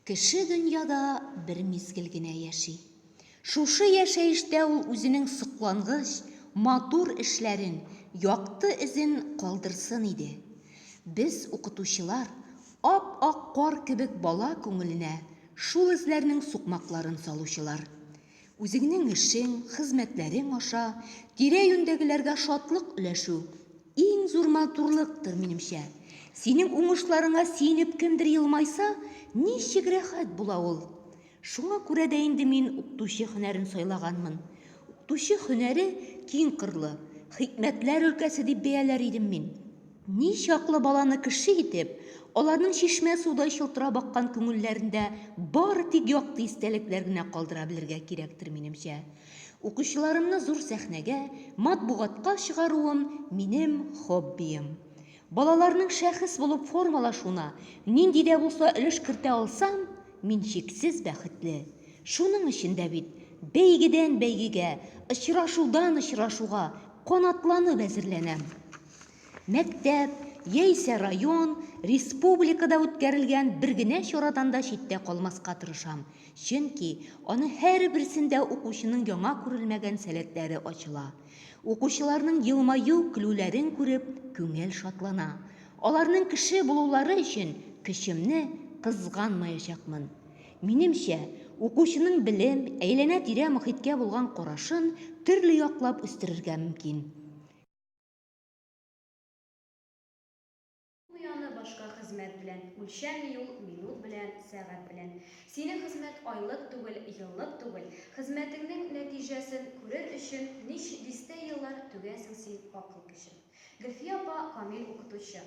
Кеше дөньяда бер мизгел генә яши. Шушы яшәештә ул үзенең соклангыч, матур эшләрен, якты эзен калдырсын иде. Без, укытучылар, ап-ак кар кебек бала күңеленә шул эзләрнең сукмакларын салучылар. Үзеңнең эшең, хезмәтләрең аша тирә-юньдәгеләргә шатлык өләшү иң зур матурлыктыр, минемчә. Синең уңышларыңа сөенеп кемдер елмайса, ничек рәхәт була ул. Шуңа күрә дә инде мин укытучы һөнәрен сайлаганмын. Укытучы һөнәре киң кырлы, хикмәтләр өлкәсе дип бәяләр идем мин. Ни чаклы баланы кеше итеп, аларның чишмә судай чылтырап аккан күңелләрендә бары тик якты истәлекләр генә калдыра белергә кирәктер, минемчә. Укучыларымны зур сәхнәгә, матбугатка чыгаруым, минем хоббием. Балаларның шәхес булып формалашуына нинди дә булса өлеш кертә алсам, мин чиксез бәхетле. Шуның өчен дә бит бәйгедән-бәйгегә, очрашудан-очрашуга канатланып әзерләнәм. Мәктәп, яисә район, республикада үткәрелгән бер генә чарадан да читтә калмаска тырышам, чөнки аның һәрберсендә укучының яңа күрелмәгән сәләтләре ачыла. Укучыларның елмаю, көлүләрен күреп, күңел шатлана. Аларның кеше булулары өчен көчемне кызганмаячакмын. Минемчә, укучының белем, әйләнә-тирә мохиткә булган карашын төрле яклап үстерергә мөмкин. Ояны башка хезмәт белән үлчәми ул, минут белән, сәгать белән. Синең хезмәт айлык түгел, еллык түгел. Хезмәтеңнең нәтиҗәсен күрер өчен нич дистә еллар түгәсең син акыл көчен. Гөлфия апа камил укытучы.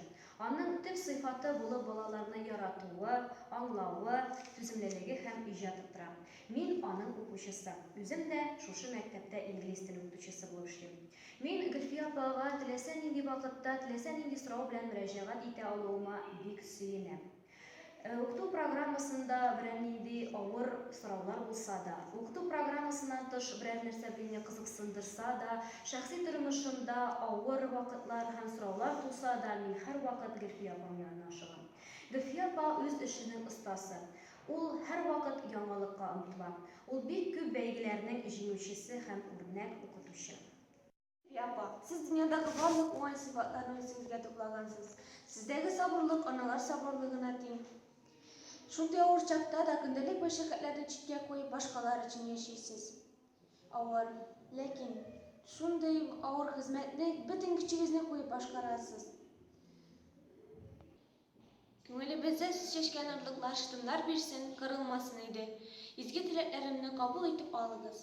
Аның төп сыйфаты булып балаларны яратуы, аңлавы, түземлелеге һәм иҗаты тора. Мин аның укучысы. Үзем дә шушы мәктәптә инглиз теле укытучысы булып эшлим. Мин Гөлфия апага теләсә нинди вакытта, теләсә нинди сорау белән мөрәҗәгать итә алуыма бик сөенәм. Укыту программасында берәр нинди авыр сораулар булса да, укыту программасыннан тыш берәр нәрсә мине кызыксындырса да, шәхси тормышымда авыр вакытлар һәм сораулар туса да, мин һәрвакыт Гөлфия апам янына ашыгам. Гөлфия апа үз эшенең остасы. Ул һәрвакыт яңалыкка омтыла. Ул бик күп бәйгеләрнең җиңүчесе һәм үрнәк укытучы. Әби апа, сез дөньядагы барлык уңай сыйфатларны үзегезгә туплагансыз. Сездәге сабырлык аналар сабырлыгына тиң. Шундый авыр чакта да көндәлек мәшәкатьләрне читкә куеп, башкалар өчен яшисез. Авыр, ләкин шундый авыр хезмәтне бөтен көчегезне куеп башкарасыз. Күңелебездә чәчкән орлыклар шытымнар бирсен, кырылмасын иде. Изге теләкләремне кабул итеп алыгыз.